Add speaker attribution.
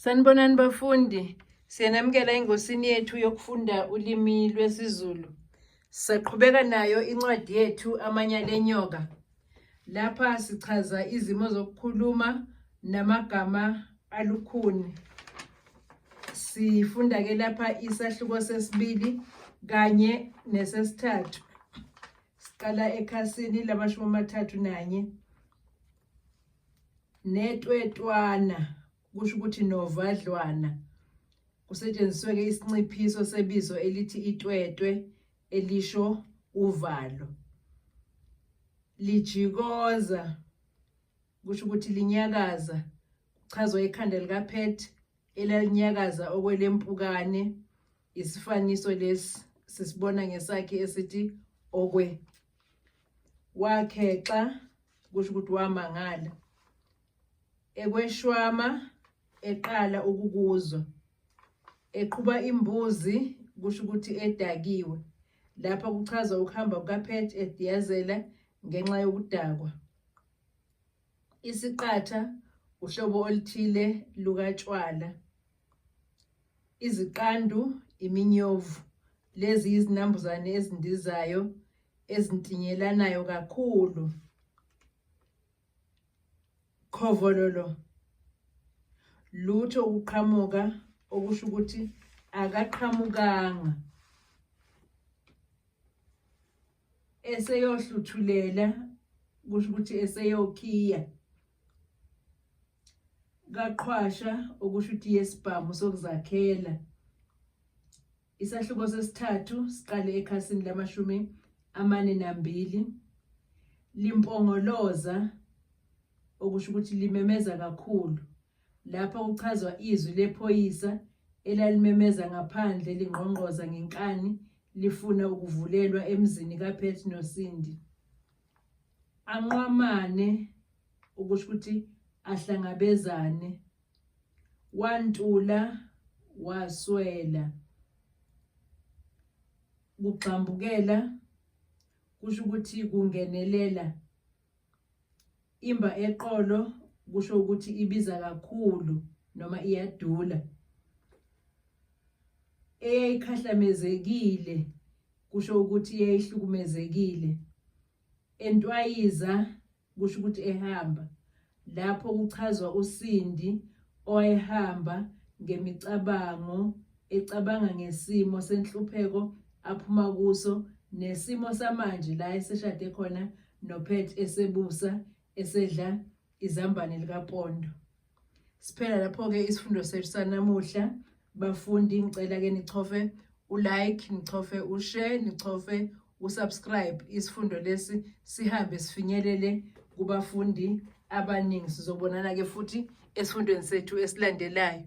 Speaker 1: Sanibonani bafundi, siyanamukela engosini yethu yokufunda ulimi lwesiZulu. Saqhubeka nayo incwadi yethu Amanya Lenyoka. Lapha sichaza izimo zokukhuluma namagama alukhuni. Sifunda ke lapha isahluko sesibili kanye nesesithathu. Siqala ekhasini lamashumi amathathu nanye. Netwetwana kusho ukuthi novadlwana. Kusetshenziswe-ke isinciphiso sebizo elithi itwetwe elisho uvalo. Lijikoza kusho ukuthi linyakaza kuchazwa ikhanda likaphethe elalinyakaza okwelempukane Isifaniso lesi sisibona ngesakhi esithi okwe wakhexa kusho ukuthi wamangala ekweshwama eqala ukukuzwa eqhuba imbuzi kusho ukuthi edakiwe lapha kuchaza ukuhamba kukaPet ediyazela ngenxa yokudakwa Isiqatha uhlobo oluthile lukatshwala. Iziqandu iminyovu. Lezi izinambuzane ezindizayo ezintinyelanayo kakhulu. Khovololo lutho ukuqhamuka okusho ukuthi akaqhamukanga. eseyohluthulela kusho ukuthi eseyokhiya kaqhwasha okusho ukuthi yesibhamu sokuzakhela isahluko sesithathu siqale ekhasini lamashumi amane nambili limpongoloza okusho ukuthi limemeza kakhulu Lapha kuchazwa izwi lephoyisa elalimemeza ngaphandle lingqongqoza ngenkani lifuna ukuvulelwa emzini kaPet noSindi. Anqwamane ukusho ukuthi ahlangabezane. Wantula waswela. Kugxambukela kusho ukuthi kungenelela Imba eqolo kusho ukuthi ibiza kakhulu noma iyadula. Eyayikhahlamezekile kusho ukuthi eyayihlukumezekile. Entwayiza kusho ukuthi ehamba. Lapho kuchazwa usindi owayehamba ngemicabango Ecabanga ngesimo senhlupheko aphuma kuso nesimo samanje la eseshade khona noPet esebusa esedla izambane likapondo. Siphela lapho-ke isifundo sethu sanamuhla. Bafundi ngicela ke nichofe ulike, nichofe ushare, nichofe usubscribe isifundo lesi sihambe sifinyelele kubafundi abaningi. Sizobonana ke futhi esifundweni sethu esilandelayo.